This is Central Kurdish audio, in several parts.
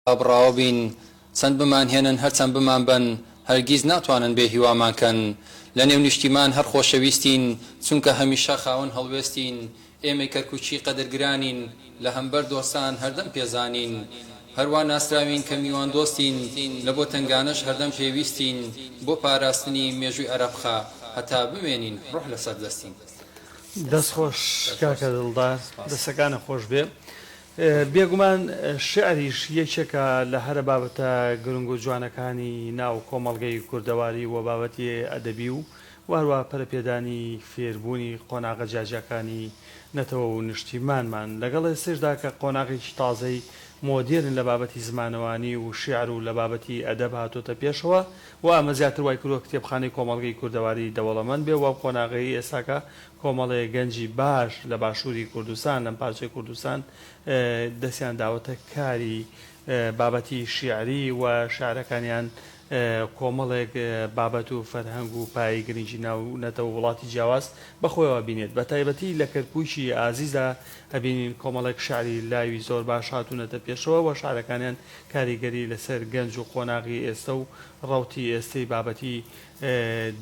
ئابڕاوە بین چەند بمانهێنن هەرچەند بمانبەن هەرگیز ناتوانن بێ هیوامان کەن لە نێو نیشتیمان هەر خۆشەویستین چونکە هەمیشە خاوەن هەڵوێستین ئێمەی کەرکوکی قەدرگرانین لە هەمبەر دۆستان هەردەم پێزانین هەروا ناسراوین کە میوان دۆستین لە بۆ تەنگانەش هەردەم پێویستین بۆ پاراستنی مێژوی ئەرەبخە هەتا بمێنین ڕوح لەسەر دەستین. دەست خۆش کاکە دڵدار دەستەکانت خۆشبێ بێگومان شیعریش یەکێکە لە هەرە بابەتە گرنگ و جوانەکانی ناو کۆمەڵگەی کوردەواری و بابەتی ئەدەبی و هەروەها پەرەپێدانی فێربوونی قۆناغە جیاجیاکانی نەتەوە و نیشتیمانمان، لەگەڵ ئێستەیشدا کە قۆناغێکی تازەی مۆدێرن لە بابەتی زمانەوانی و شیعر و لە بابەتی ئەدەب هاتۆتە پێشەوە و ئەمە زیاتر وایکردووە کتێبخانەی کۆمەڵگەی کوردەواری دەوڵەمەند بێ و قۆناغەی ئێستاکە کۆمەڵێ گەنجی باش لە باشووری کوردستان، لەم پارچەی کوردستان دەستیان داوەتە کاری بابەتی شیعری و شیعرەکانیان کۆمەڵێک بابەت و فەرهەنگ و پایەی گرنگی ناو نەتەوە و وڵاتی جیاواز بە خۆیەوە بینێت. بە تایبەتی لە کەرکووکی ئازیزدا ئەبینین کۆمەڵێک شیعری لاوی زۆر باش هاتوونەتە پێشەوە و شیعرەکانیان کاریگەری لە سەر گەنج و قۆناغی ئێستە و ڕەوتی ئێستەی بابەتی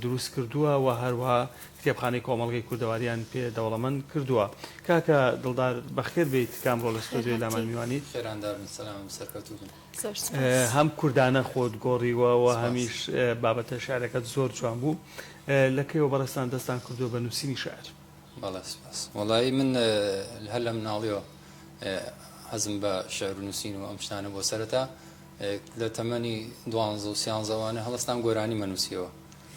دروست کردووە و هەروەها کتێبخانەی کۆمەڵگەی کوردەواریان پێ دەوڵەمەند کردووە. کاکە دڵدار بەخێر بێیت کامڕۆ لە ستۆدیۆی لامان میوانیت. خێرانداربن سەلامم سەرکەوتووبن. زۆر سوپاس. هەم کوردانە خۆت گۆڕیوە و هەمیش بابەتە شعرەکەت زۆر جوان بوو. لە کەیەوە بەڕێزتان دەستتان کردووە بە نووسینی شعر؟ بەڵێ سوپاس. وەڵایی من هەر لە مناڵیەوە حەزم بە شعر و نووسین و ئەم شتانە بووە سەرەتا. لە تەمەنی دوانزە و سیانزە وانە هەڵستام گۆرانی مە نووسیەوە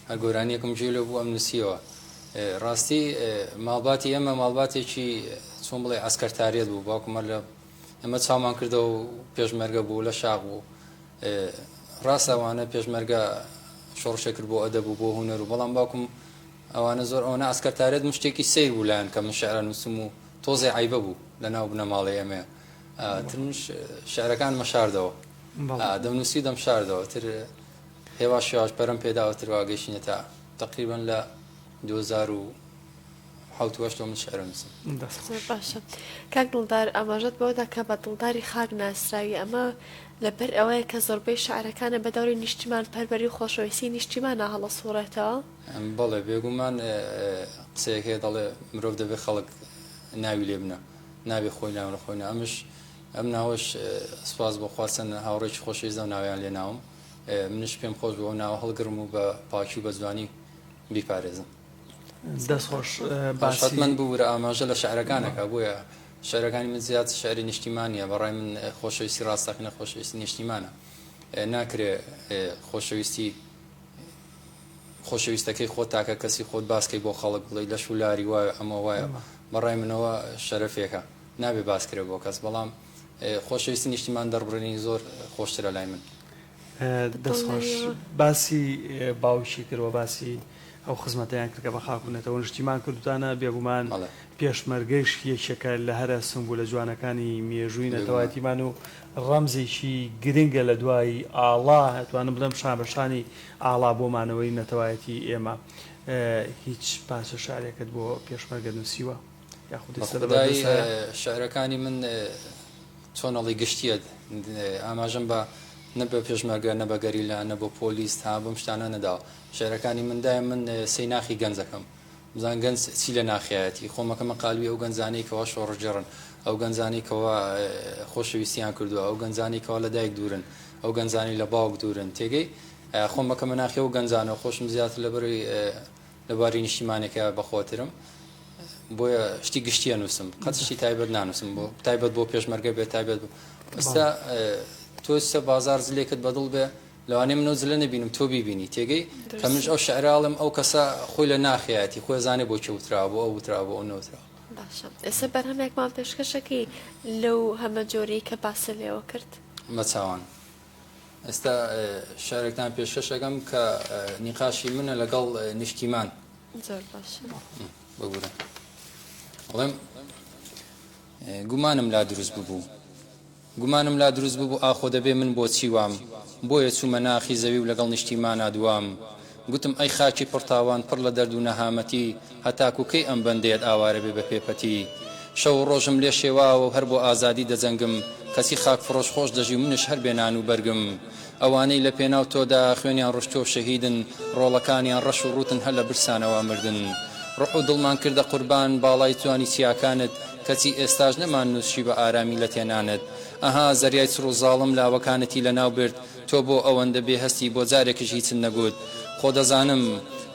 هەر گۆرانیەکم گوێ لێ بوو ئەم نووسیەوە ڕاستی ماڵباتی ئێمە ماڵباتێکی چۆن بڵێ ئەسکەرتاریەت بوو باوکمە لە ئەمە چامان کردەوە و پێشمەرگە بوو لە شاق بوو ڕاست ئەوانە پێشمەرگە شۆڕشێ کرد بۆ ئەدەب و بۆ هوەر و بەڵام باوکم ئەوانە زۆر ئەوەنە ئەسکەرتارێت مشتێکی سیر بوو لایەن کە من شعرە نووسم و تۆزێ عیبە بوو لە ناو بنەماڵی ئەمەیە ترمنیش شعرەکانمە شاردەوە دەمنووسی دەم شاردەوە تر هێواش شێواش پەرم پێداوە تروا گەشتینە تا تقریبن لە 2000 و حوتوەشتۆ من شعرە نووسم باشە کاک دڵدار ئاماژەت بەوەدا کە بە دڵداری خاک ناسراوی ئەمە لەبەر ئەوەیە کە زۆربەی شعرەکانە بە دەوری نیشتیمان پەروەری و خۆشەویستی نیشتیمانە هەڵە سوڕێتەوە بەڵێ بێگومان قسەیەکێ دەڵێ مرۆڤ دەبێت خەڵک ناوی لێ بنە نابێ خۆی ناو لە خۆی نا ئەمش ئەم ناوەش سپاس بۆ خوا چەند هاوڕێکی خۆشەویست ئەو ناویان لێ ناوم منش پێم خۆش بۆ ناوە هەڵگرم و بە پاکی و بە جوانی بیپارێزم دەست خۆش باشەت من بوو لە ئاماژە لە شعرەکانەکە بۆیە شعرەکانی من زیاد شعری نیشتیمانە بەڕای من خۆشەویستی ڕاستەقینە خۆشەویستی نیشتیمانە ناکرێ خۆشەویستی خۆشەویستەکەی خۆت تاکە کەسی خۆت باس کەی بۆ خەڵک بڵێی لەش و لاری وایە ئەمە وایە بەڕای منەوە شەرەفێکە نابێ باس کرێ بۆ کەس بەڵام خۆشەویستی نیشتیمان دەربڕینی زۆر خۆشترە لای من. دەست خۆش باسی باوکی کرد وە باسی ئەو خزمەتەیان کرد کە بە خاک و نەتەوە و نیشتیمان کردوتانە بێگومان پێشمەرگەیش یەکێکە لە هەرە سمبولە جوانەکانی مێژووی نەتەوایەتیمان و ڕەمزێکی گرنگە لە دوای ئاڵا، ئەتوانم بڵێم شانبەشانی ئاڵا بۆ مانەوەی نەتەوایەتی ئێمە. هیچ پارچە شعرێکت بۆ پێشمەرگە نووسیوە؟ یاخود ئێستا لە بەردەستە؟ بەخودای شعرەکانی من چۆن ئەڵێی گشتییەت، ئاماژەم بە نە بە پێشمەرگە، نە بە گەریلا، نە بۆ پۆلیس، ها بەم شتانە نەداوە. شعرەکانی من دایم من سەیناخی گەنجەکەم. بزان گەنج چی لە ناخیایەتی خۆم ئەکەمە قالبی ئەو گەنجانەی کەوا شۆڕشگێڕن، ئەو گەنجانەی کەوا خۆشەویستیان کردووە، ئەو گەنجانەی کەوا لە دایک دوورن، ئەو گەنجانەی لە باوک دوورن، تێگەی؟ خۆم ئەکەمە ناخی ئەو گەنجانەو خۆشم زیاتر لەبەرەی لە باری نیشتیمانەکەیا بەخۆترم بۆیە شتی گشتی ئەنووسم قەت شتی تایبەت نانووسم بۆ تایبەت بۆ پێشمەرگە بێت تایبەت بۆ ئستا تۆ سە بازار زلێکت بەدڵ بێ لەوانەیە من ئەو جلە نەبینم تۆ بیبینی تێگەی کە منش ئەو شعرە ئەڵێم ئەو کەسە خۆی لە ناخیاتی خۆی زانێ بۆ کێ وتراوە بۆ ئەو وتراوە بۆ ئەو نەوتراوە باشە ئێستا بەرهەمێکمان پێشکەشەکەی لەو هەمە جۆرەی کە باست لێوە کرد مەچاوان ئێستا شارێکتان پێشکەشەکەم کە نیقاشی منە لەگەڵ نیشتیمان زۆر باش بگورە ئەڵێم گومانم لا دروست ببوو گومانم لا دروست ببو ئاخۆ دەبێ من بۆچی وام، بۆیە چومە ناخی زەوی و لەگەڵ نیشتیمانا دوام. گوتم ئەی خاکی پڕ تاوان پڕ لە دەرد و نەهامەتی هەتاکو کەی ئەم بەندەیەت ئاوارە بێ بە پێ پەتی؟ شەو و ڕۆژم لێ شێواوە و هەر بۆ ئازادی دەجەنگم، کەچی خاک فڕۆش خۆش دەژی و منش هەر بێ نان و بەرگم. ئەوانەی لە پێناو تۆدا خوێنیان ڕشتوە و شەهیدن ڕۆڵەکانیان ڕەش و ڕوتن هەر لە برسانەوە مردن ڕوح و دڵمان کردە قوربان باڵای جوانی چیاکانت کەچی ئێستاش نەمان نوسشی بە ئارامی لە تێنانت ئەها زەریای چڕو زاڵم لاوەکانتی لە ناو برد تۆ بۆ ئەوەندە بێ هەستی بۆ جارێکش هیچت نەگوت خۆ دەزانم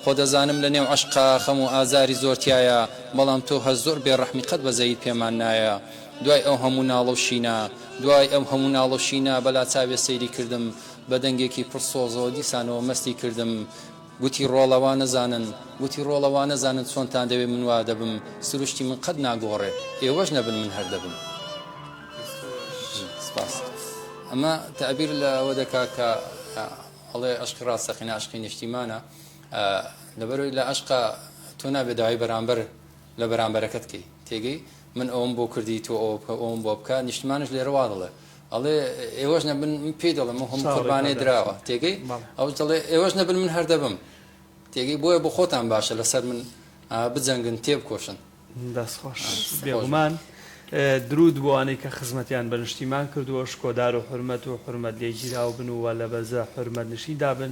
خۆ دەزانم لە نێو عەشقا خەم و ئازاری زۆر تیایە بەڵام تۆ هەر زۆر بێ ڕەحمی قەت بەزەییت پێمان نایە. دوای ئەو هەموو ناڵە و شینا. دوای ئەو هەموو ناڵە و شینا بەلا چاوێ سەیری کردم بە دەنگێکی پڕ سۆزەوە دیسانەوە مەستی کردم گوتی ڕۆڵە وا نەزانن گوتی ڕۆڵە وا نەزانن چۆنتان دەوێ من وا دەبم سروشتی من قەت ناگۆڕێ ئێوەش نەبن من هەر دەبم سپاس ئەمە تەعبیر لە ئەوە دەکا کە ئەڵێ عشقی ڕاستەقینە عشقی نیشتیمانە لەبەرەوەی لە عشقا تۆ نابێ داوای بەرامبەر لە بەرامبەرەکەت کەی تێگەی من ئەوەم بۆ کردی تۆ ئەوە بکە ئەوەم بۆ بکە نیشتمانیش لێرە وا دەڵێ ئەڵێ ئێوەش نەبن من پێی دەڵێم و هەموو قوربانێ دراوە تێگەی ئەوش دەڵێ ئێوەش نەبن من هەر دەبم تێگەی بۆیە بۆ خۆتان باشە لەسەر من بجەنگن تێبکۆشن دەستخۆش بێگومان درود بۆوانەی کە خزمەتیان بە نیشتیمان کردووە شکۆدار و حرمەت و حرمەت لێگیراو بن و لە بەرزە حرمەت نشیندا بن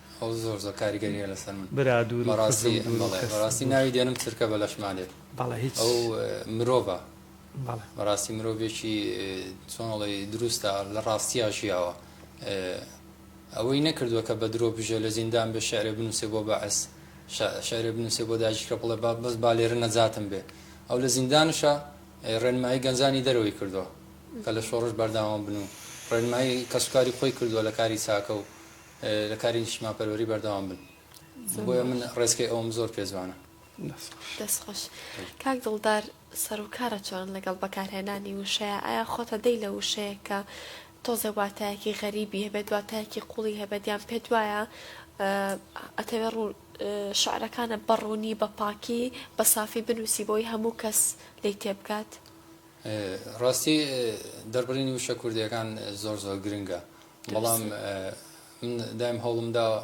ئەو زۆر زۆر کاریگەری هەیە لەسەر من برا دوورو بەڕاستی خزم دوورو بەڵێ کەس بەڕاستی دوور ناوی دێنم چرکە بە لەشما دێت بەڵێ هیچ ئەو مرۆڤە بەڵێ بەڕاستی مرۆڤێکی چۆنڵی دروستە لە ڕاستیا ژیاوە ئەوەی نەکردووە کە بە درۆ بژێ لە زیندان بێ شعرێ بنووسێ بۆ بەعس شعرێ بنووسێ بۆ داژیکە بڵێ با بەس با لێرە نەجاتم بێ ئەو لە زیندانشە ڕێنمایی گەنجانی دەرەوەی کردووە کە لە شۆڕش بەردەوام بن و ڕێنمایی کەسوکاری خۆی کردووە لە کاری چاکە و لە کاری نیشتمانپەروەری بەردەوام بن بۆیە من ڕێزکەی ئەوم زۆر پێ جوانە دەست خۆش کاک دڵدار سەرکارە چۆن لەگەڵ بەکارهێنانی وشەیە ئایا خۆتە دەی لە وشەیە کە تۆزێ واتایەکی غەریبی هەبێت دواتایەکی قوڵی هەبێت یان پێ دوایە ئەتەوێ ڕوو شعرەکانە بەڕوونی بە پاکی بە سافی بنووسی بۆی هەموو کەس لی تێبگات ڕاستی دەربڕینی وشە کوردیەکان زۆر زۆر گرنگە بەڵام من دایم هەوڵم داوە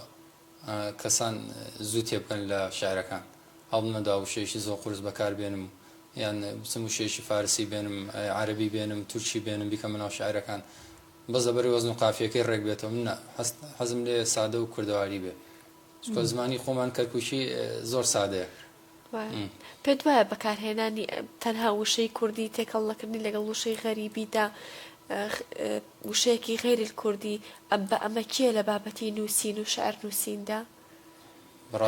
کەسان زوو تێبکەن لە شعرەکان هەوڵم نەدا وشەیەکی زۆر قورس بەکار بێنم یان بچم وشەیەکی فارسی بێنم عەربی بێنم تورکی بێنم بیکەمە ناو شعرەکان بەس لەبەری وەزن و قافیەکەی ڕێک بێتەوە منە حەزم لێ سادە و کوردەواری بێ چکە زمانی خۆمان کەرکووکی زۆر سادەیە پێت وایە بەکارهێنانی تەنها وشەی کوردی تێکەڵ نەکردنی لەگەڵ وشەی غەریبیدا وشەیەکی غیر الکوردی ئەم بە ئەمە کێ لە بابەتی نووسین و شعر نووسیندا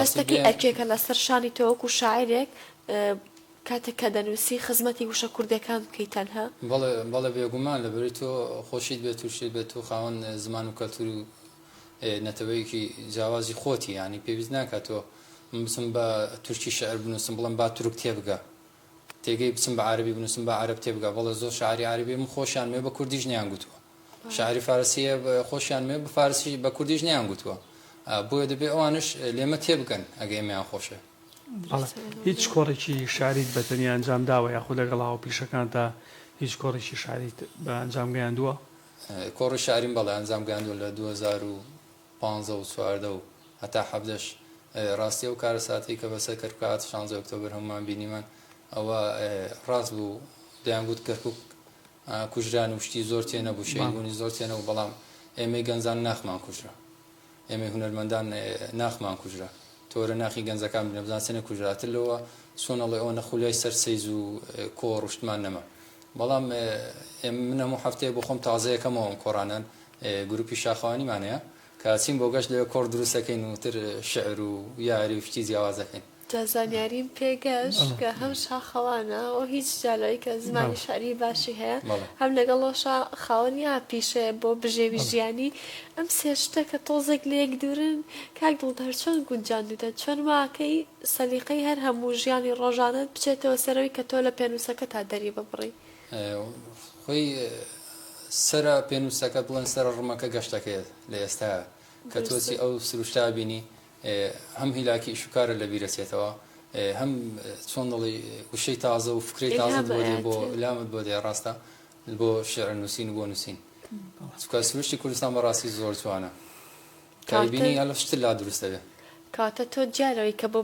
هەستەکەی ئەرکێکە لەسەر شانی تەوەکو شاعرێک کاتێک کە دەنووسی خزمەتی وشە کوردەکان بکەیت تەنها بەڵێ بەڵێ بێگومان لەبەری تۆ خۆشیت بێت و شێت بێت و خاوەن زمان و کەلتور و نەتەوەیەکی جیاوازی خۆتی یانی پێویست ناکا تۆ من بچم بە تورکی شعر بنوسم بڵێم با تورک تێبگە تێگەی بچم بە عارەبی بنوسم با عارەب تێبگا بەڵێ زۆر شاعری عارەبی من خۆشیان مێ بە کوردیش نیان گوتوە شاعری فارسیە خۆشیان مێ بە فارسی بە کوردیش نیان گوتوە بۆیە دەبێ ئەوانش لێمە تێبگەن ئەگەی ئێمەیان خۆشێ بەڵێ هیچ کۆڕێکی شاعریت بە تەنیا ئەنجام داوە یاخود لەگەڵ هاوپیشەکانتا هیچ کۆڕێکی شاعریت بە ئەنجام گەیاندوە؟ کۆڕی شاریم بەڵێ ئەنجام گەیاندووە لە دوو هەزار و پازدە و چواردە و هەتا حەڤدەش ڕاستی ئەو کارەساتی کە بەسەر کەرکوک هات شانزە ئۆکتۆبر هەمووان بینیمان ئەوە ڕاست بوو دەیان گوت کەرکوک کوژران و شتی زۆر تێ نەبوو شەیبوونی زۆر تێ نەبوو بەڵام ئێمەی گەنجان ناخمان کوژرا ئێمەی هونەرمەندان ناخمان کوژرا تۆرە ناخی گەنجەکان بنە بزان چەنێ کوژراتر لەوە چۆن ئەڵێ ئەوە نەخولیای سەر سەیز و کۆڕ شتمان نەما بەڵام من هەموو هەفتەیە بۆ خۆم تازەیەکەمەوەم کۆڕانان گروپی شاخەوانیمانەیە کە چین بۆ گەشت لەوێ کۆڕ دروستەکەین و تر شعر و یاری و شتی جیاوازەکەین جا زانیاریم پێ گەشت کە هەم شاخەوانە و هیچ جالەوەی کە زمانی شعری باشی هەیە هەم لەگەڵەوەشا خاوەنی ئاپیشەیە بۆ بژێوی ژیانی ئەم سێ شتە کە تۆزێک لەیەک دوورن کاک دڵدار چۆن گونجاندوتە چۆن واکەی سەلیقەی هەر هەموو ژیانی ڕۆژانەت بچێتەوە سەرەوەی کە تۆ لە پێنووسەکەتا دەری ببڕی؟ خۆی سەرە پێنووسەکە بڵێن سەرە ڕمەکە گەشتەکەیە لە ئێستایا کە تۆ چی ئەو سروشتە بینی هەم هیلاکی ئیشوکارت لەبیر ئەچێتەوە هەم چۆن دەڵێی وشەی تازە و فکرەی تازەت بۆ دێ بۆ لامت بۆ دێ ڕاستە بۆ شعر نووسین و بۆ نووسین چونکە سروشتی کوردستان بەڕاستی زۆر جوانە کابینی هەلە شتر لا دروست دەبێ کاتە تۆ جارەوەی کە بۆ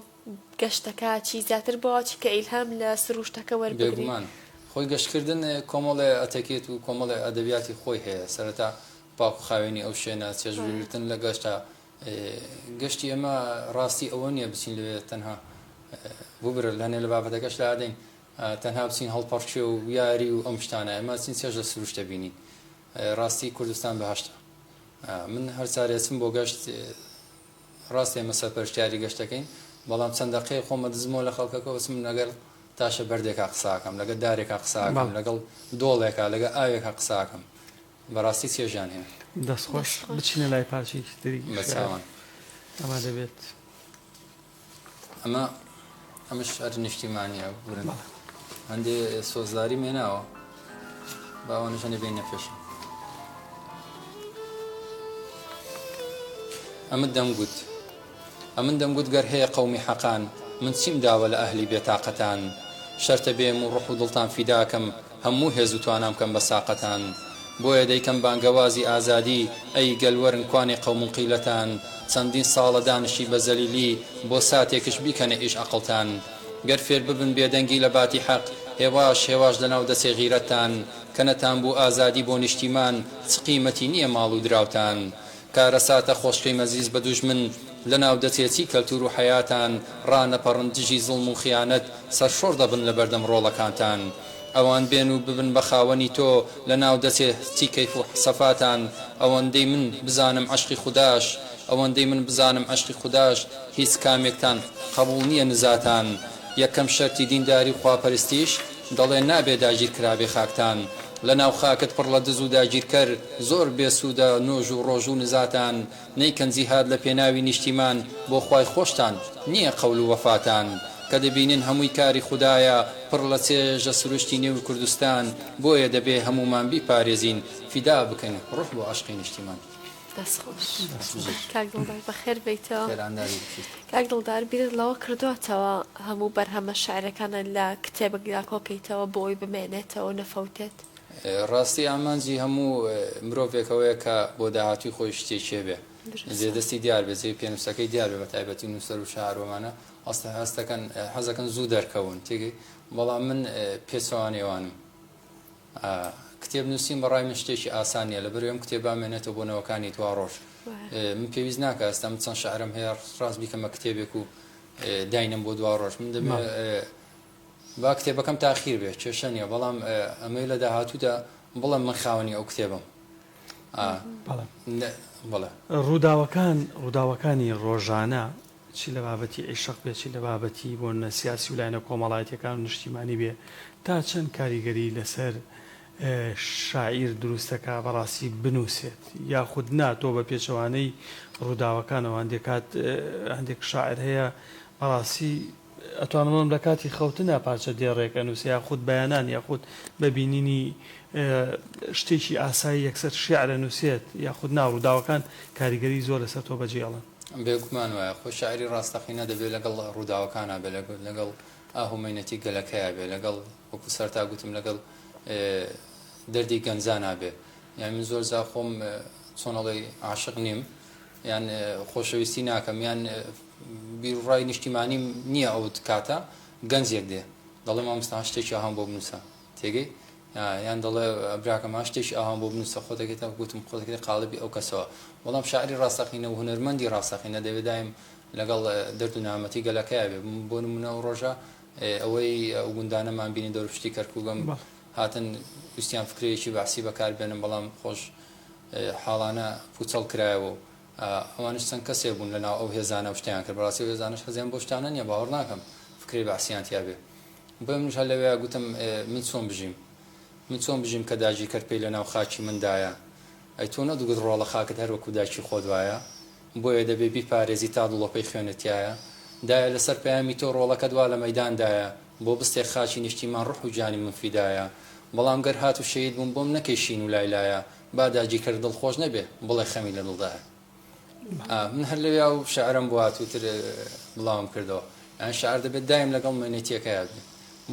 گەشتەکە چی زیاتر بۆچی کە ئیلهام لە سروشتەکە وەربگری بێگومان خۆی گەشتکردن کۆمەڵێ ئەتەکێت و کۆمەڵێ ئەدەبیاتی خۆی هەیە سەرەتا پاک و خاوێنی ئەو شوێنە چێژ وەرگرتن لە گەشتە گشتی ئێمە ڕاستی ئەوە نییە بچین لەوێ تەنها ببرە لەنێ لە بابەتەکەش لادەین تەنها بچین هەڵپەڕکێ و یاری و ئەم شتانە ئێمە چین چێژ لە سروشتە بینین ڕاستی کوردستان بەهشتە من هەر چارێچم بۆ گەشت ڕاست ئێمە سەرپەرشتیاری گەشتەکەین بەڵام چەند دەقەیە خۆمە دزمەوە لە خەڵکەکەەوە چم لەگەر تاشە بەردێکا قساکەم لەگە دارێکا قساکەم لەگەڵ دۆڵێکا لەگە ئاوێکا قساکەم بەڕاستی چێژیان هەیە. دەست خۆش بچینە لای پارچەیەکی تری بە چاوان ئەمە دەبێت ئەمە ئەمش هەر نیشتیمانیە بورن هەندێ سۆزداری مێناوە باوانشەنێ بین نەپێشم ئەمە دەمگوت ئەمن دەمگوت گەر هەیە قەومی حەقان من چیم داوە لە ئەهلی بێ تاقەتان شەرتە بێم و ڕوح و دڵتان فیدا کەم هەموو هێز و توانام کەم بە ساقەتان بۆیە دەیکەم بانگەوازی ئازادی ئەی گەل وەرن کوانێ قەومن قیلەتان چەندین ساڵە دانشی بە زەلیلی بۆ ساتێکش بیکەنە ئیش ئەقڵتان گەر فێر ببن بێدەنگی لە باتی حەق هێواش هێواش لە ناو دەچێ غیرەتتان کە نەتان بوو ئازادی بۆ نیشتیمان چ قیمەتی نییە ماڵ و دراوتان کارەساتە خۆشکەی مەزیز بە دوژمن لە ناو دەچێ چی کەلتور و حەیاتان ڕانەپەڕن دژی زوڵم و خیانەت سەرشۆڕ دەبن لە بەردەم ڕۆڵەکانتان ئەوان بێن و ببن بە خاوەنی تۆ لە ناو دەچێ چی کەیف و سەفاتان ئەوەندەی من بزانم عەشقی خوداش ئەوەندەی من بزانم عەشقی خوداش هیچ کامێکتان قەبوڵ نیە نزاتان یەکەم شەرتی دینداری و خواپەرستیش دەڵێن نابێ داگیر کرابێ خاکتان لەناو خاکت پڕ لە دز و داگیرکەر زۆر بێ سوودە نۆژ و ڕۆژ و نزاتان نەیکەن جیهاد لە پێناوی نیشتیمان بۆ خوای خۆشتان نییە قەول و وەفاتان کە دەبینن هەمووی کاری خودایە پڕ لە چێژە سروشتی نێو کوردستان بۆیە دەبێ هەموومان بیپارێزین فیدا بکەین ڕوح بۆ عەشقی نیشتیمان. دەست خۆش کاک دڵدار بەخێر بێیتەوە خێرانداری بکەیت. کاک دڵدار بیرت لەوە کردووەتەوە هەموو بەرهەمە شیعرەکانت لە کتێبێکدا کۆکەیتەوە بۆ ئەوەی بمێنێتەوە و نەفەوتێت؟ ڕاستی ئامانجی هەموو مرۆڤێک ئەوەیە کە بۆ داهاتووی خۆی شتێک هەبێ دروستە. جێ دەستی دیار بێ جێی پێنووسەکەی دیار بێ بە تایبەتی نووسەر و شاعرۆمانە ئەسڵەن هەست دەکەن حەز دەکەن زوو دەرکەون تێگەی بەڵام من پێچەوانەی ئەوانم کتێب نوسین بەڕای من شتێکی ئاسان نیە لەبەر ئەم کتێب بامێنێتەوە بۆ نەوەکانی دواڕۆژ من پێویست ناکە ئەستا من چەند شعرم هەیە ڕاست بیکەمە کتێبێک و داینم بۆ دواڕۆژ من دەبێت با کتێبەکەم تاخیر بێت کێشە نیە بەڵام ئەمەی لە داهاتوودا بڵم من خاوەنی ئەو کتێبم ڕووداوەکان ڕووداوەکانی ڕۆژانە چی لە بابەتی عیشق بێ، چی لە بابەتی بۆنە سیاسی و لایەنە کۆمەڵایەتییەکان و نیشتیمانی بێ، تا چەند کاریگەریی لەسەر شاعیر دروست دەکا بەڕاستی بنووسێت یاخود نا؟ تۆ بە پێچەوانەی ڕووداوەکانەوە هەندێک کات هەندێک شاعیر هەیە بەڕاستی ئەتوانم بڵێم لە کاتی خەوتنا پارچە دێڕێک ئەنووسێ یاخود بەیانان یاخود بە بینینی شتێکی ئاسایی یەکسەر شیعر ئەنووسێت یاخود نا؟ ڕووداوەکان کاریگەریی زۆر لەسەر تۆ بەجێ ئەڵن؟ بێگومان وایە، خۆ شاعیری ڕاستەقینە دەبێ لەگەڵ ڕووداوەکانا بێ، لەگەڵ ئاه و مەینەتی گەلەکەیا بێ، لەگەڵ وەکوو سەرەتا گوتم لەگەڵ دەردی گەنجانا بێ. یان من زۆر جار خۆم چۆن ئەڵێی عاشق نیم، یان خۆشەویستی ناکەم، یان بیروڕای نیشتیمانیم نییە ئەو کاتە، گەنجێک دێ دەڵێ مامۆستا شتێکی ئاهام بۆ بنووسە، تێگەی یان دەڵێ براکە ما شتێکی ئاوام بۆ بنووسە خۆ دەکەیت تاکو گوتم خۆ دەکەیت قاڵبی ئەو کەسەوە بەڵام شاعری ڕاستەقینە و هونەرمەندی ڕاستەقینە دەبێ دایم لەگەڵ دەرد و نامەتی گەلەکەیا بێ بۆ نمونە ئەو ڕۆژە ئەوەی ئەو گوندانەمان بینی دەورپشتی کەرکووگەم هاتن ویستیان فکرەیەکی بەعسی بەکار بێنن بەڵام خۆش حاڵانە پوچەڵ کرایەوە و ئەوانش چەند کەسێ بوون لە ناو ئەو هێزانە و شتیان کرد بەڕاستی هێزانش حەزیان بۆ شتانە نیە باوەڕ ناکەم فکرەی بەعسیان تیا بێ بۆیە منیش هەر لەوێیا گوتم ئێ من چۆن بژیم؟ من چۆن بژیم کە داگیرکەر پێی لە ناو خاکی مندایە؟ ئەی تۆ نەتگوت ڕۆڵە خاکت هەر وەکوو دایکی خۆت وایە؟ بۆیە دەبێ بیپارێزی تا دڵۆپەی خوێنت تیایە؟ دایە لە سەر پەیامی تۆ ڕۆڵەکەت وا لە مەیداندایە بۆ بستێک خاکی نیشتیمان ڕوح و گیانی من فیدایە بەڵام گەر هات و شەهید بووم بۆم نەکەی شین و لای لایە با داگیرکەر دڵخۆش نەبێ بڵێ خەمی لە دڵدایە. من هەر لەوێ ئەو شعرم بۆ هاتووتر بڵاوم کردەوە یان شعر دەبێت دایم لەگەڵ مێنێتیەکە یاد بێت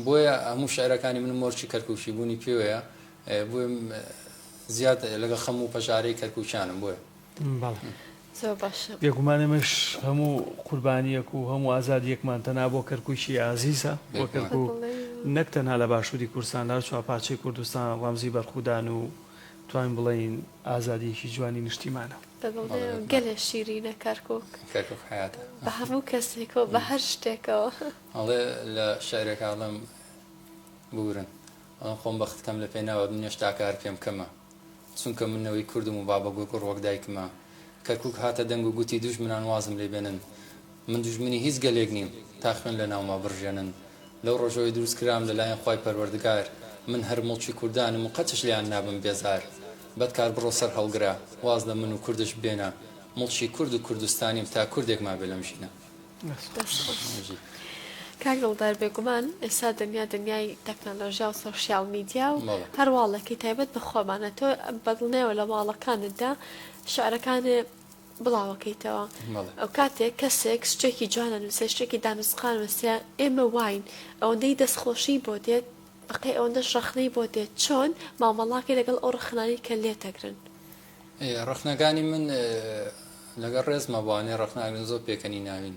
بۆیە هەموو شعرەکانی من مۆرچی کەرکوکی بوونی پێوەیە بۆێ زیاد لەگە خەم و پەژارەی کەرکوچانم بۆێ بێگومانەمەش هەموو قوربانیەک و هەموو ئازاد یەکمان تەنا بۆ کەرکوکی ئازیزە بۆ کەرکک نەک تەنها لە باشووری کوردستان لە چوارپارچەی کوردستان ڕەمزی بەرخودان و توانین بڵێین ئازادیەکی جوانی نیشتیمانە. دەگڵێم گەلێ شیرینە کەرکوک. کەرکوک حەیاتە. بە هەموو کەسێکەوە بە هەر شتێکەوە. ئەڵێ لە شعرێکا ئەڵێم ببورن ئەڵێم خۆم بەخت کەم لە پێناوت من هێشتا کار پێم کەمە چونکە من نەوەی کوردم و بابە گوڕگوڕ وەک دایکمە کەرکوک هاتە دەنگ و گوتی دوژمنان وازم لێ بێنن من دوژمنی هیچ گەلێک نیم تا خوێن لە ناوما بڕژێنن لەو ڕۆژەوەی دروست کرام لە لایەن خوای پەروەردگار من هەر موڵکی کوردانم و قەتش لێیان نابم بێزار بەدکار بڕۆ سەر هەڵگرە واز لە من و کوردش بێنە موڵکی کورد و کوردستانیم تا کوردێک مابێ لەم ژینە. دەست خۆش کاک دڵدار بێگومان ئێستا دنیا دنیای تەکنەلۆژیا و سۆشیال میدیا و بەڵێ. هەر واڵێکی تایبەت بە خۆمانە تۆ بە دڵنیایەوە لە واڵەکانتدا شعرەکانێ بڵاوەکەیتەوە ئەوکاتێک کەسێک شتێکی جوان ئەنوسێ شتێکی دانوسقان ئەنوسێ ئێمە واین ئەوەندەی دەستخۆشی بۆ دێت بەقەی ئەوەندەش ڕەخنەی بۆ دێت چۆن مامەڵاکەی لەگەڵ ئەو ڕەخنانەی کە لێتەگرن. ڕەخنەکانی من لەگەڵ ڕێزما بۆ ئەوانەی ڕەخنە ئەگرن زۆر پێکەنیناوین.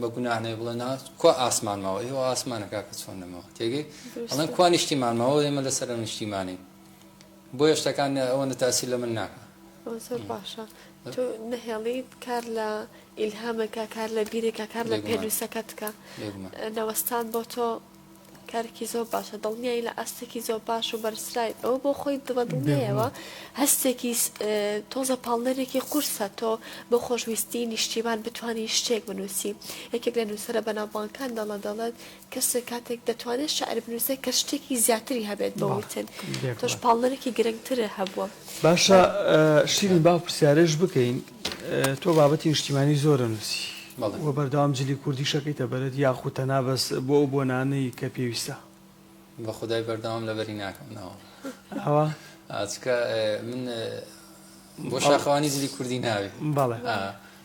بە گوناح نەبێ بڵێ نا کوا ئاسمان ماوە ئەی وە ئاسمانە کاکە چۆن نەماوە تێگەی ئەڵێن کوا نیشتیمان ماوە ئێمە لەسەر ئەم نیشتیمانین بۆیە شتەکان ئەوەندە تاسیر لە من ناکە ئەوە زۆر باشە تۆ نەهێڵیت کار لە ئیلهامەکە کار لە بیرێکە کار لە بێگومان. پێنووسەکەتکە بێگومان. نەوەستان بۆ تۆ کارێکی زۆر باشە دڵنیایی لە ئاستێکی زۆر باش و بەرزرایت ئەوە بۆ خۆی بە دڵنیایەوە هەستێکی تۆزە پاڵنەرێکی قورسە تۆ بۆ خۆشویستی نیشتیمان بتانی شتێک بنووسی یەکێک لە نووسرە بەناوبانکان دەڵە دەڵێت کەسێک کاتێک دەتوانێت شعر بنووسێت کە شتێکی زیاتری هەبێت بە وتن تۆش پاڵنەرێکی گرنگترە هەبووە باشە شیرین با پرسیارش بکەین تۆ بابەتی نیشتیمانی زۆرە نووسی و بەردەوام جلی کوردیش ئەکەیتە بەرت یاخود تەنها بەس بۆ ئەو بۆنانەی کە پێویستە؟ بە خودای بەردەوام لەبەری ناکەم ناوەڵڵا ئەوا چکە من بۆ شاخەوانی جلی کوردی ناوێ بەڵێ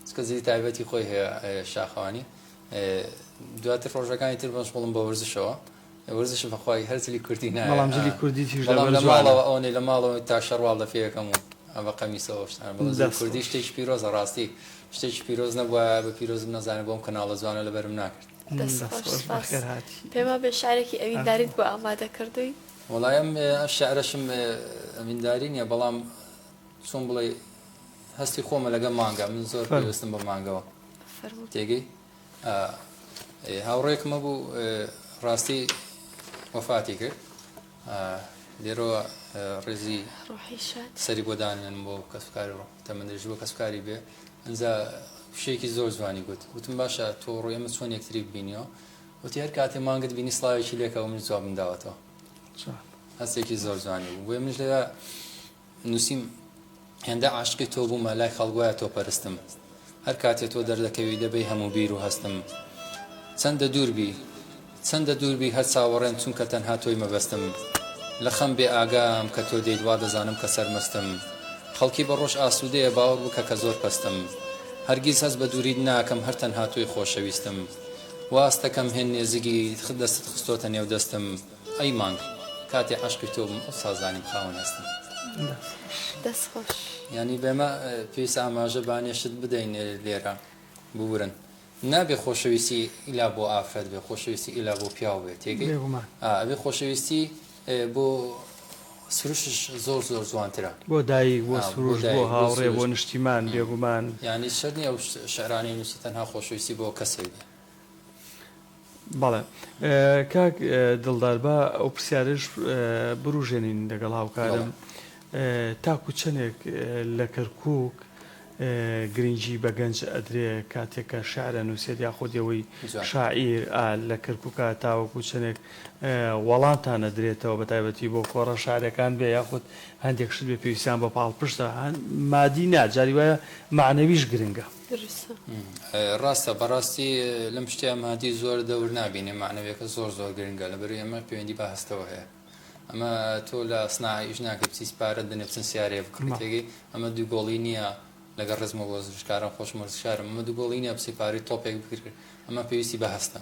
چکە جلی تایبەتی خۆی هەیە شاخەوانی دواتر ڕۆژەکانی تر بەشغڵم بە وەرزشەوە وەرزش بەخوای هەر جلی کوردی نایە بەڵام جلی کوردی تیژ لە بەر جوانە بەڵام ئەوەنەی لە ماڵەوە تا شەڕواڵ لە پێیەکەم و ئەبە قەمیسەوە شتان بەڵام جلی کوردی شتێکی پیرۆزە ڕاستی شتێکی پیرۆز نەبووە بە پیرۆزم نەزانە بۆم کەناڵە جوانە لە بەرم ناکرد پێما بێ شارێکی ئەوی داریت بۆ ئامادە کردووی وڵایم شعرەشم ئەمینداری نیە بەڵام چۆن بڵێ هەستی خۆمە لەگە مانگە من زۆر پێویستم بە مانگەوە تێگەی ئا ئێ هاوڕێکمە بوو ڕاستی وەفاتی کرد ئا لێرەوە ڕێزی ڕۆحی شاد سەری بۆ دانێنم بۆ کەسوکار و تەمەندرێژی بۆ کەسوکاری بێ ئەنجا شتێکی زۆر جوانی گوت وتم باشە تۆ ڕۆی ئێمە چۆن یەکتری ببینیەوە وتی هەر کاتێ مانگت بینی سڵاوێکی لێکەوە منیش جوابم داوەتەوە چۆن هەستێکی زۆر جوانی بوو بۆیە منیش لێرە نووسیم، هێندە عاشقی تۆ بوومە لای خەڵک وایە تۆ پەرستم هەر کاتێ تۆ دەردەکەوی دەبەی هەموو بیر و هەستم چەندە دوور بی چەندە دوور بی هەر چاوەڕێم چونکە تەنها تۆی مەبەستم لە خەم بێ ئاگام کە تۆ دێیت وا دەزانم کە سەرمەستم خەڵکی بە ڕۆژ ئاسوودەیە باوەڕ بکە کە زۆر پەستم هەرگیز هەست بە دووریت ناکەم هەر تەنها تۆی خۆشەویستم واستەکەم هێن نێزیکی دەستت خستۆتە نێو دەستم ئەی مانگ کاتێ عەشقی تۆ بووم ئەوسا زانیم خاوەن ئەستم. دەست خۆش. دەست خۆش. یانی بێمە پێویستە ئاماژە بانێشت بدەین لێرە ببورن نابێ خۆشەویستی ئیلا بۆ ئافرەت بێ خۆشەویستی ئیلا بۆ پیاو بێ تێگەی بێگومان ئا ئەبێ خۆشەویستی بۆ سروشش زۆر زۆر جوانترە بۆ دایک بۆ سروش بۆ بۆ دایک بۆ هاوڕێ بۆ سروشت نیشتیمان بێگومان. یانی شەرت نیە ئەو شعرانەی نوسی تەنها خۆشەویستی بۆ کەسێک بێ. بەڵێ کاک دڵدار با ئەو پرسیارەش بوروژێنین لەگەڵ هاوکارم تاکو چەنێک لە کەرکوک گرنگی بە گەنج ئەدرێ کاتێک کە شعر ئەنوسێت یاخود ئەوەی شاعیر ئا لە کەرکوکە تاوەکو چەنێک وەڵامتان ئەدرێتەوە بە تایبەتی بۆ کۆڕە شعرەکان بێ یاخود هەندێک شت بێ پێویستیان بە پاڵپشتە مادی نا جاری وایە مەعنەویش گرنگە. ڕاستە بەڕاستی لەم شتیا مادی زۆر دەور نابینێ معنەوەکە زۆر زۆر گرنگە لە بەروی ئەمە پەیوەندی بە هەستەوە هەیە ئەمە تۆ لە سناعیش ناکە بچیت پارەت بنێ بچن سیارێ بکڕێتێگەی ئەمە دووگۆڵی نییە لەگە ڕزمە بۆ زشکارم خۆش مەرزشارم ئەمە دووگۆڵی نیە بچی پاری تۆپێک بکرد ئەمە پێویستی بە هەستە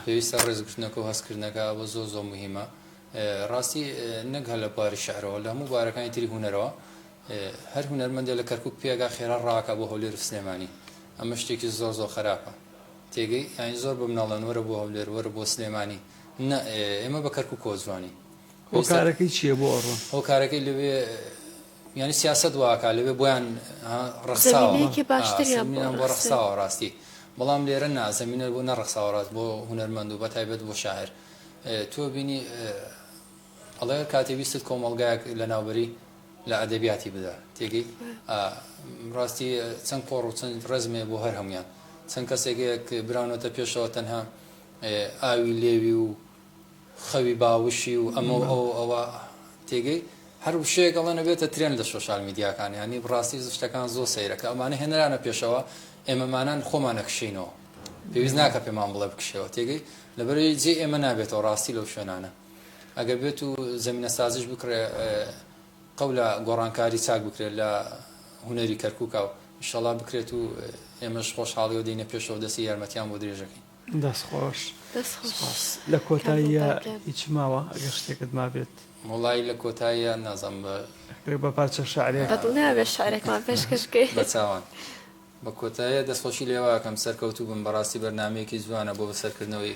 پێویستە ڕێزگرتنەکە و هەستکردنەکە بۆ زۆ زۆ مهمە ڕاستی نەک هەلە باری شعرەوە لە هەموو بارەکانی تری هوەرەوە هەر هونەرمەندێ لە کەرکوک پێگا خێرا ڕاکا بۆ هەولێرو سلێمانی ئەمە شتێکی زۆر زۆر خەراپە تێگەی یانی زۆر بە مناڵ دەن وەرە بۆ هەولێر وەرە بۆ سلێمانی نە ئێمە بە کەرکوک کۆ جوانی هۆکارەکەی چیە بۆ ئەڕۆن هۆکارەکەی لەوێ یانی سیاسەت واکا لەوێ بۆیان ڕخساوە زەمینەیەکی باشتریان بۆ ڕخساوە ڕاستی بەڵام لێرە نا زەمینە بۆ نەڕخساوە ڕاست بۆ هونەرمەند و بەتایبەت بۆ شاعر تۆ بینی ئەڵێ کاتێ ویستت کۆمەڵگایەک لەناوبەری لە ئەدەبیاتی بدا تێگەی ڕاستی چەند قۆڕ و چەند ڕێزمێ بۆ هەر هەموان چەند کەسێکێک براونەتە پێشەوە تەنها ئاوی لێوی و خەوی باوشی و ئەمە ئەو ئەوە تێگەی هەر وشەیەک ئەڵێ نەبێتە ترێن لە سۆشال میدیاکان ینی بڕاستی شتەکان زۆر سەیرەکە ئەمانە هێنرانە پێشەوە ئێمەمانان خۆمان نەکشینەوە پێویست ناکە پێمان بڵێ بکشەوە تێگەی لەبەرەی جێ ئێمە نابێتەوە ڕاستی لەو شوێنانە ئەگەر بێت و زەمینە سازیش بکڕێ قەولە گۆڕانکاری چاک بکرێت لە هونەری کەرکوکا و ئیشەڵا بکرێت و ئێمەش خۆشحاڵی و دەینە پێشەوە دەستی یارمەتیان بۆ درێژەکەین دەست خۆش دەست خۆش لە کۆتاییە هیچ ماوە ئەگەر شتێکت مابێت وڵی لە کۆتاییە نازم بە بە پارچە شعرێک نابێت شعرێکمان پێشکەشکەی بە چاوان بە کۆتاییە دەستخۆشی لێواکەم سەرکەوتوو بم بەڕاستی بەرنمەیەکی جوانە بۆ بەسەرکردنەوەی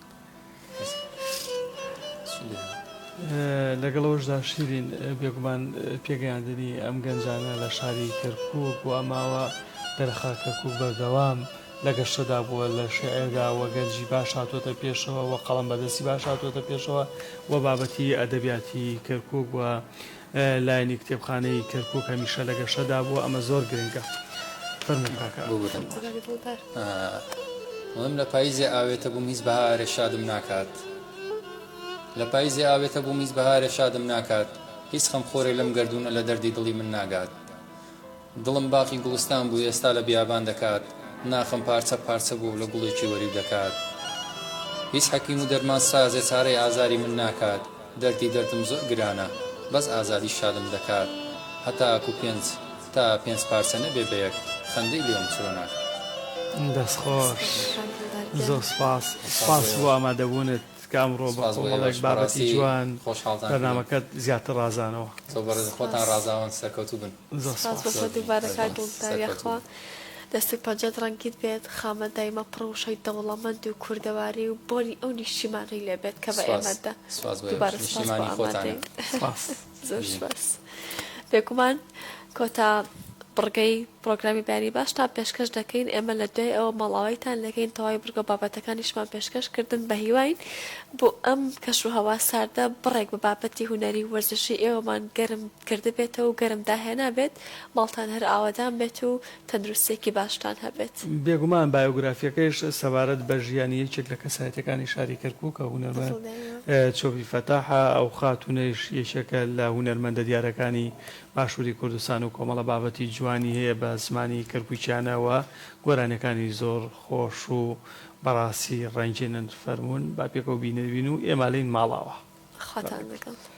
لەگەڵ ئەوەشدا شیرین بێگومان پێگەیاندنی ئەم گەنجانە لە شاری کەرکوک و ئەماوە دەرخا کەرکوک بەردەوام لە گەشتەدا بووە لە شعردا و گەنجی باش هاتووەتە پێشەوە و قەڵەم بەدەستی باش هاتووەتە پێشەوە و بابەتی ئەدەبیاتی کەرکوک و لایەنی کتێبخانەی کەرکوک هەمیشە لە گەشەدا بووە ئەمە زۆر گرنگە فەرموو کاکە ئەمن. لە پاییزێ ئاوێتە بووم هیچ بەهارێ شادم ناکات لە پاییزێ ئاوێتە بووم هیچ بەهارێ شادم ناکات هیچ خەمخۆرێ لەم گەردوونە لە دەردی دڵی من ناگات. دڵم باقی گوڵستان بوو ئێستا لە بیابان دەکات ناخم پارچە پارچە بوو لە گوڵێکی وەریو دەکات هیچ حەکیم و دەرمان سازێ چارەی ئازاری من ناکات دەردی دەردم زۆر گرانە بەس ئازادی شادم دەکات هەتاکو پێنج تا پێنج پارچە نەبێ بە یەک خەندەی لێوم چرۆ ناکات. دەست خۆش زۆر سوپاس. سوپاس بۆ ئامادەبوونت کە ئەمڕۆ بە کۆمەڵێک بابەتی جوان بەرنامەکەت زیاتر ڕازانەوە. سوپاس بۆ ئێوەش بەڕاستی خۆشحاڵ دەبم. تۆ بەڕێز خۆتان ڕازاوەن سەرکەوتوو بن. سپاس بۆ تۆ دووبارە کاک گوڵستان یاخوا دەست و پەنجەت ڕەنگین بێت خاوەن دایمە پڕ وشەی دەوڵەمەند و کوردەواری و بۆنی ئەو نیشتیمانەی لێ بێت کە بە ئێمەت دا دووبارە سپاس بۆ ئامادەی زۆر سپاس بێگومان کۆتا بڕگەی پرۆگرامی بەیانی باشتان پێشکەش دەکەین ئێمە لە دوای ئەوە ماڵاوایتان دەکەین تەواوی بڕگە بابەتەکانیشمان پێشکەش کردن بە هیواین بۆ ئەم کەش و هەوا ساردە بڕێک بە بابەتی هونەری و وەرزشی ئێوەمان گەرم کردبێتەوە و گەرم داهێنابێت، ماڵتان هەر ئاوەدان بێت و تەندروستییەکی باشتان هەبێت. بێگومان بایۆگرافییەکەیش سەبارەت بە ژیانی یەکێک لە کەسایەتییەکانی شاری کەرکووکە، هونەرمەند چۆپی فەتاحە، ئەو خاتوونەیش یەکێکە لە هونەرمەندە دیارەکانی باشووری کوردستان و کۆمەڵە بابەتی جوانی هەیە بە زمانی کەرکووکییانە و گۆرانییەکانی زۆر خۆش و بەڕاستی ڕەنگینن فەرموون با پێکەوە بینەربین و ئێمالین ماڵاوا. خواتان لەگەڵ.